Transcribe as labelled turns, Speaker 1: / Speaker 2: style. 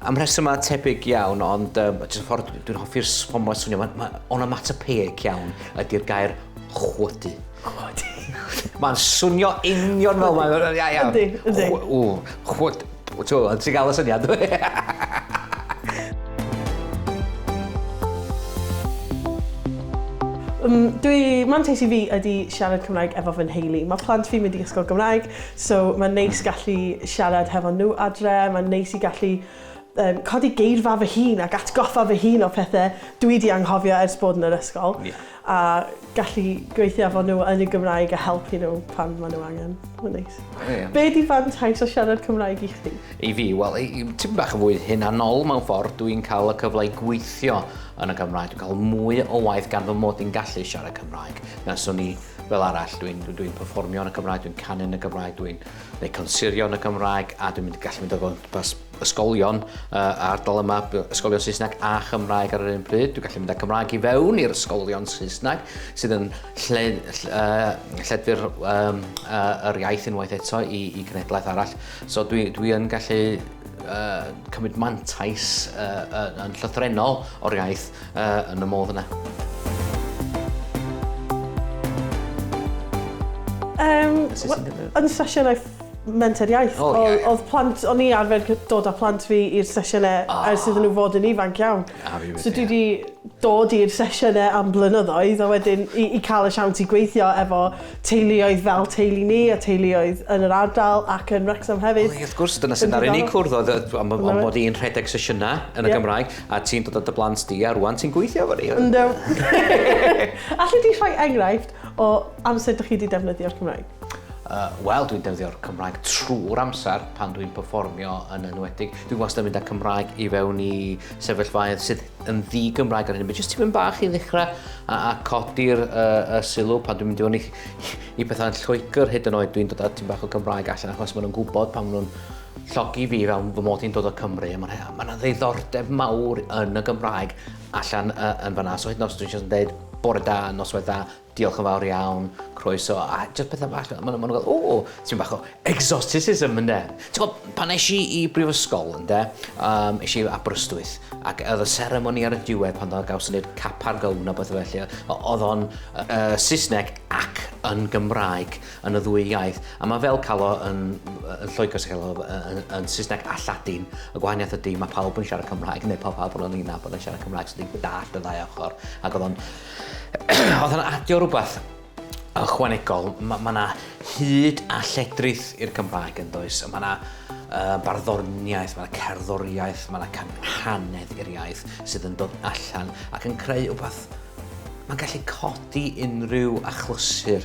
Speaker 1: Am rhesymau
Speaker 2: tebyg iawn, ond um, jyst y ffordd dwi'n hoffi'r ffordd mae'n swnio, mae, mae onomatopoeic iawn ydy'r gair chwydu. Chwydu.
Speaker 1: mae'n
Speaker 2: swnio union fel mae'n... Ia, ia. Ydy, ydy.
Speaker 1: Chw,
Speaker 2: chwyd, ti'n gael y syniad. Um,
Speaker 1: dwi, mantais i fi ydy siarad Cymraeg efo fy nheulu. Mae plant fi'n mynd i ysgol Gymraeg, So mae'n neis gallu siarad hefo nhw adre, mae'n neis i gallu um, codi geirfa fy hun ac atgoffa fy hun o pethau dwi di anghofio ers bod yn yr ysgol. Yeah. A gallu gweithio efo nhw yn y Gymraeg a helpu nhw pan maen nhw angen. Mae'n neis. Yeah. Be di fantais o siarad Cymraeg i chdi? I fi, wel,
Speaker 2: ti'n bach yn fwy hunanol mewn ffordd, dwi'n cael y cyfle i gweithio yn y Gymraeg, dwi'n cael mwy o waith gan fy mod i'n gallu siarad Cymraeg. Nes o'n i fel arall, dwi'n dwi, dwi perfformio yn y Gymraeg, dwi'n canu yn y Gymraeg, dwi'n gwneud consirio yn y Gymraeg, a dwi'n mynd i gallu mynd o gwmpas ysgolion uh, ardal yma, ysgolion Saesneg a Chymraeg ar yr un pryd. Dwi'n gallu mynd â Cymraeg i fewn i'r ysgolion Saesneg, sydd yn lle, lle, uh, lleddfu'r um, uh, yr iaith unwaith eto i, i gnedlaeth arall. So dwi, dwi yn gallu uh, cymryd mantais uh, yn llythrenol o'r iaith Yy, yn y modd yna. Um,
Speaker 1: yn sesiynau menter iaith, oh, yeah, yeah. oedd plant, o'n i arfer dod â plant fi i'r sesiynau oh. Ah. ers iddyn nhw fod yn ifanc iawn. Ah, so dwi wedi dod i'r sesiynau am blynyddoedd a wedyn i, i cael y siawns i gweithio efo teuluoedd fel teulu ni a teuluoedd yn yr ardal ac yn Wrexham hefyd. Wel, wrth gwrs, dyna sy'n ar unig
Speaker 2: cwrdd oedd am bod i'n rhedeg sesiynau yn y Gymraeg. A ti'n dod â dy blant di a rwan ti'n gweithio efo ni. Yndw.
Speaker 1: Alli di rhoi enghraifft o amser dych chi wedi defnyddio'r Cymraeg? Yy, wel, dwi'n
Speaker 2: defnyddio'r Cymraeg trwy'r amser pan dwi'n perfformio yn enwedig. Dwi wastad yn mynd â Cymraeg i fewn i sefyllfaoedd sydd yn ddi-Gymraeg ar hyn o bryd, jyst tipyn bach i ddechrau a, a codi'r uh, uh, sylw pan dwi'n mynd i fewn i, i bethau'n Lloegr hyd yn oed dwi'n dod â tipyn bach o Gymraeg allan achos maen nhw'n gwybod pan maen nhw'n llogi fi fel fy mod i'n dod o Cymru, a mae yna ddiddordeb mawr yn y Gymraeg allan uh, yn fanna. So hyd yn oes dwi'n just yn dweud bore da, noswaith da, diolch yn fawr iawn, croeso, a just pethau bach, maen nhw'n gael, o, ti'n bach o exoticism ynde. Ti'n gwybod, pan eis i i brifysgol ynde, um, eis i Aberystwyth, ac oedd y seremoni ar y diwedd pan oedd gawson ni'r cap ar gown a beth felly, oedd o'n uh, Saesneg ac yn Gymraeg. yn y ddwy iaith. A mae fel cael o yn, yn Lloegr sy'n cael o yn, yn Saesneg a Lladin. Y gwahaniaeth ydy, mae pawb yn siarad Cymraeg, neu pawb pawb yn yna bod yn siarad Cymraeg, so ti'n dallt y ddau ochr. Ac oedd o'n... oedd o'n adio rhywbeth ychwanegol. Mae yna ma hyd a lledrith i'r Cymraeg yn does. Mae yna uh, barddoniaeth, mae yna cerddoriaeth, mae yna canhanedd i'r iaith sydd yn dod allan ac yn creu rhywbeth mae'n gallu codi unrhyw achlysur